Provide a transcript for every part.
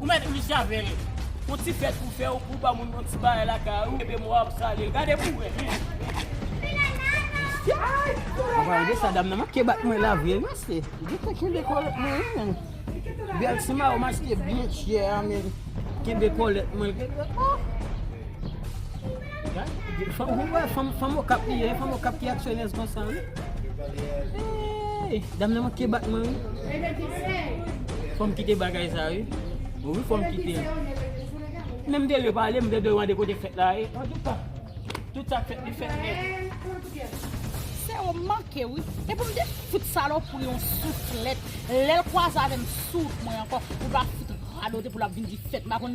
Ou mèt riche avè l. Yon ti fèt pou fè ou pou ba moun yon ti bagay lakay ou epi mwa ap sale l. Gade pou wè men. Gade sa dam nan manke bat mwen la vre men se. Li te kenbe kòlèt mwen wi men. Bèl ti mayo m achte byen chè a men. Kenbe kòlèt mwen. Fanm okap li ye, fanm okap ki aksyonèz konsa wi. Eeyy, dam nan manke bat mwen wi. Fòm kite bagay sa wi. Wi fòm kite. Men m te dwe pale, m te dwe mande kote fèt la ye. An tou ka, tout sa k fèt li fèt nèt. Sè ou m manke wi. E pou m te fout salopri yon souflèt, lè l kwaze avè m souf mwen ankò, pou l pa fout radote pou l ap vin di fèt. M pa konn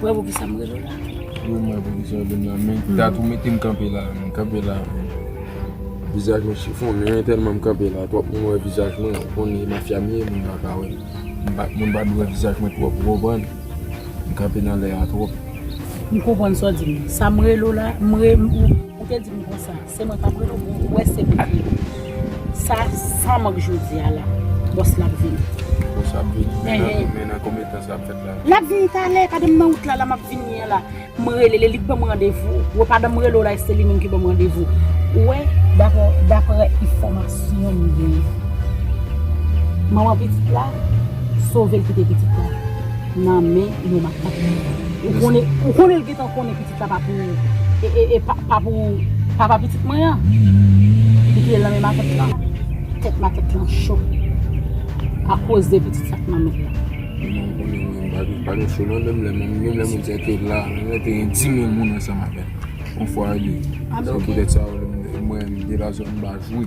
Ou wè poukisa m rele w la? Wi m wè poukisa w rele m la men dat ou mete m kanpe la m kanpe la avè w. Vizaj mwen chifonnen tèlman m kanpe la twòp moun wè vizaj mwen ou konn e mafya m ye moun pa ka wè m moun pa dwe wè vizaj mwen twòp ou konprann m kanpe nan lè a twòp. M konprann sa w di m nan sa m rele w la m re ou te di m konsa. Se mwen kap rele w pou w wè se mwen ki rele w. Sa san mank jodi a la. Bòs la ap vini. Bòs la ap vini? Men nan konbyen tan sa ap fèt la? Lap vini talè, gade m nan wout la la map vini an la. M rele l, li k banm randevou. Ou wè pandan m rele w la e se li menm ki banm randevou. Ou wè? Daprè enfòmasyon m genyen, manman pitit la sove l kite pitit la nan men yon makak. Ou konnen l gentan konnen pitit la. Sa pa pou e pa pou papa pitit mwen an li kite l nan men matant lan tèt matant lan cho akoz de pitit sa k nan men l m pa gen cho non menm lè moun sa te la menm lè te gen dimil moun ansanm avè l on fwa li se poutèt sa mwen m de la zòn baz wi.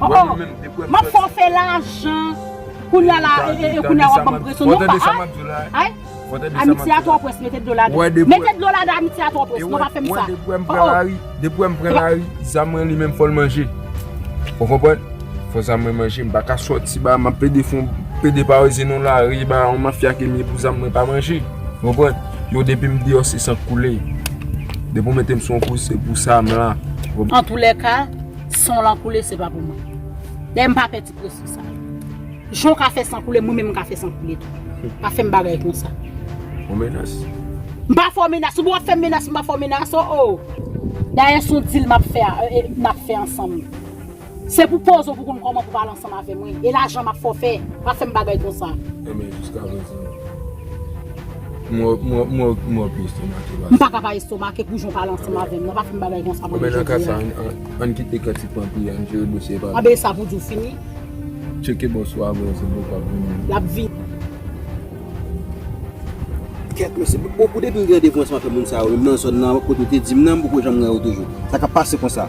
Oh oh, map fè w fè lajan, kounya la e e kounya wap banm presyon non pa a ay, amitye a twò pwès mete dlo ladan, mete dlo ladan amitye a twò pwès non pa fèm sa oh oh. Depi wèm pran lari, zam mwen li menm fòl manje ou konprann, fò zam mwen manje m paka sòti ba map plede fon plede pa wè zenon lari ba yon mafya ke m ye pou zam mwen pa manje ou konprann, yo depim deyò se san k koule, depi w metem son kouz se pou sa m la. Antoulèka. San w lan koule se pa pou mwen. Dayè m pa pè ti presyon sa yo. Jan w ka fè san koule mwen menm m ka fè san koule tou. Pa fè m bagay konsa. Ou menas? M pa fè w menas. Ou pa wè w ap fè m menas m pa fè w menas o o. Dayè s on dil m ap fè n ap fè ansanm. Se pou poze w pou w konn kòman pou w pale ansanm avè m wi. E lajan m ap fè w fè. Pa fè m bagay konsa. Enben jiska prezan. Mwen pi estomake pase. M paka pa estomake pou jan w pale ansanm avè m nan. Pa fè m bagay konsa pou mwen jodi a. Bon men nan ka sa, ann kite kantik lan pi ann jere dosye pa nou. Anben e sa pou di w fini? Tcheke bòs ou a vre se pou w ka vini. L ap vini. Kèt mesye. Bon pou depi m gen devwans m ap fè moun sa yo menm nan zòn nan kote w te di m nan m poko janm wè yo toujou. Sa k ap pase konsa?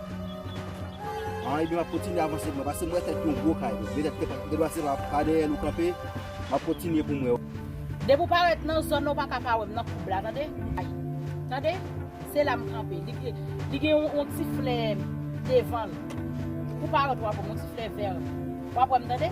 An ebyen map kontinye avanse mwen pase mwen fèt yon gwo kay wi petèt ke de lwa se pa pa dèyè nou kanpe map kontinye pou mwen. Depi w parèt nan zòn nan ou paka pa wè m nan koub la tande ay tande se la m kanpe li gen yon ti flè devan l kou w parèt wap wè m yon ti flè vèr wap wè m tande.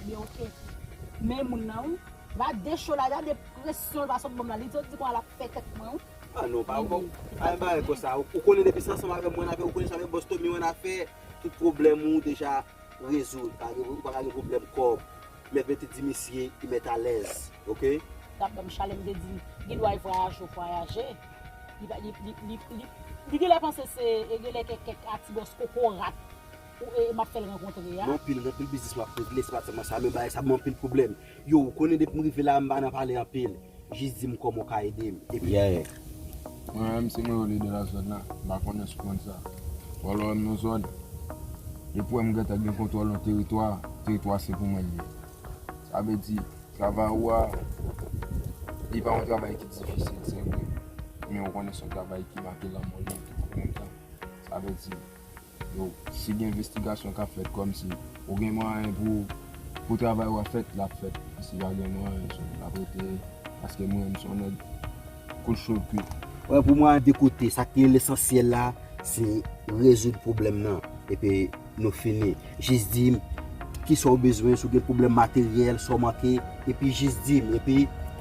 Ebyen ok. Men moun nan wi. Gade show la gade presyon l pa sot banm la li santi konwa lap fè tèt mwen wi. Ah non pa bon pa gen bagay konsa ou konnen depi se ansanm avèm ou annafè ou konnen sa avèk bòs Tommy ou annafè tout pwoblèm ou deja rezoud pa gen ou paka gen pwoblèm kòb mèt mete di misye li mèt alèz ok. Tap banm chale m te di l gendwa l vwayaje ou vwayaje li pa li li li li genlè panse se genlè kèk kèk a ti bòs kokorat. Ou e map fel rankontre a. Non pil anpil biznis map regle se pat selman sa men bagay sa banm anpil pwoblem yo ou konnen depim rive la mpa nan pale anpil jis dim koman ou ka edem epi yeah. Mwen menm se mwen yo lide nan zòn nan, m pa konnen si w konn sa. Wè lè w renmen yon zòn, depi w wè m gentan gen kontwòl yon teritwa, teritwa a se pou mwen l ye. Sa vle di, travay ou a, li pa yon travay ki difisil se vre, men ou konnen se yon travay ki make lanmò l ye tou an menm tan. Sa vle di, Yo si gen envestigasyon kap fèt kòmsi ou gen mwayen pou pou travay ou a fèt lap fèt si pa gen mwayen so lap rete paske mwen menm son nèg kout cho kwit. Wè pou mwen a de kote sak pi lesansyèl la se rezoud pwoblèm nan epi nou fini jis dim kisaw bezwen si w gen pwoblèm materyèl sa w manke epi jis dim epi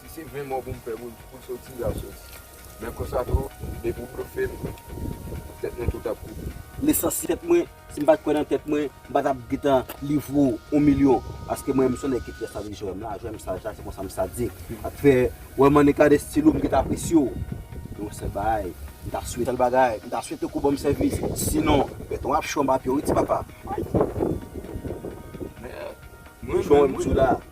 Si se 20 mò poum fè poul soti yap soti men konsa tou depi ou blofem tèt nou tout ap kouri. Nesans si tèt mwen si m pat kwè nan tèt mwen m patap gntan livre ou on milyon paske mwen m son nèg ki pyès nan vi jwèm la jwèm saj la se konsa m sadik sak fè wè m an etat de style ou m gntan apresye w gen yon sèl bagay m ta swete sèl bagay m ta swete ke w banm sèvis sinon bèton ap cho anba pye w wi ti papa. Ayy. Men mwen menm wi.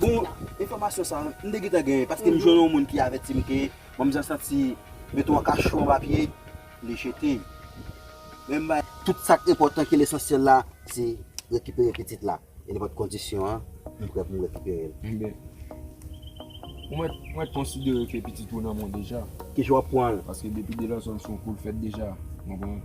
Bon, enfòmasyon sa a, m te gentan genyen paske m jwenn yon moun ki avèti m ke manmzè santi gen twa ka chou anba pye li jete. Men m bay. Tout sa k enpòtan ki lesansyèl la se rekipere pitit la e nenpòt kondisyon an m prè pou m rekipere l. Enben, ou mèt ou mèt konsidere ke pitit ou nan mwen deja. Kijan w ap pran l? Paske depi de lanzon l son kou l fèt deja. Ou konprann?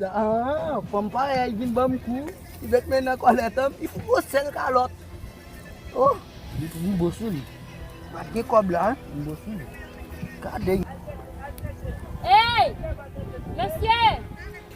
Haa, fanm parèy vin banm kou, li met men nan kòlèt an, li fout yon sèl kalòt. Oh! Li fout yon bo sou li. Pat gen kòb la, yon bo sou li. Gade yon. Hey! Mesye!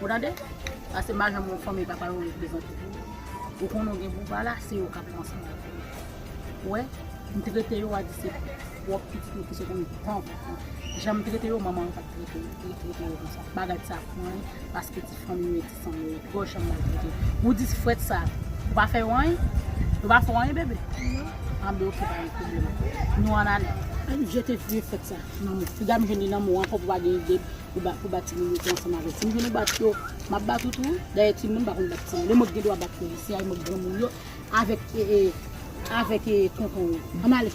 Ou tande? Pase majanm yon fanmi papa yo reprezante pou ou. Ou konnen ou gen pou pa la, se yo k ap pran san yo pou ou. Ou wè? M trete yo a di se pwòp pitit yo ki sot ann tank ou. Jan m trete yo, manman an pa t trete yo. Li trete yo konsa. M pa gad sa pou anyen, paske ti fanmi yo e ti san yo ye. Gwo jan m maltrete yo. Ou di frèt sa, yo pa fè yo anyen? Yo pa fè w anyen, bebe? Non. Anben oke, pa gen pwoblèm. Nou ann ale. Ann jete vye frèt sa nan mwen. Piga m jwenn li nan mwen w ankò pou pa gen ide. pou ba pou ba timoun yo te ansanm avèk timoun nou bat yo map bat ou tou dayè timoun pa konn bat timoun e mwen k gen dwa bat polisye a e mwen k granmoun yo avèk ee avèk ee tonton yo an n ale.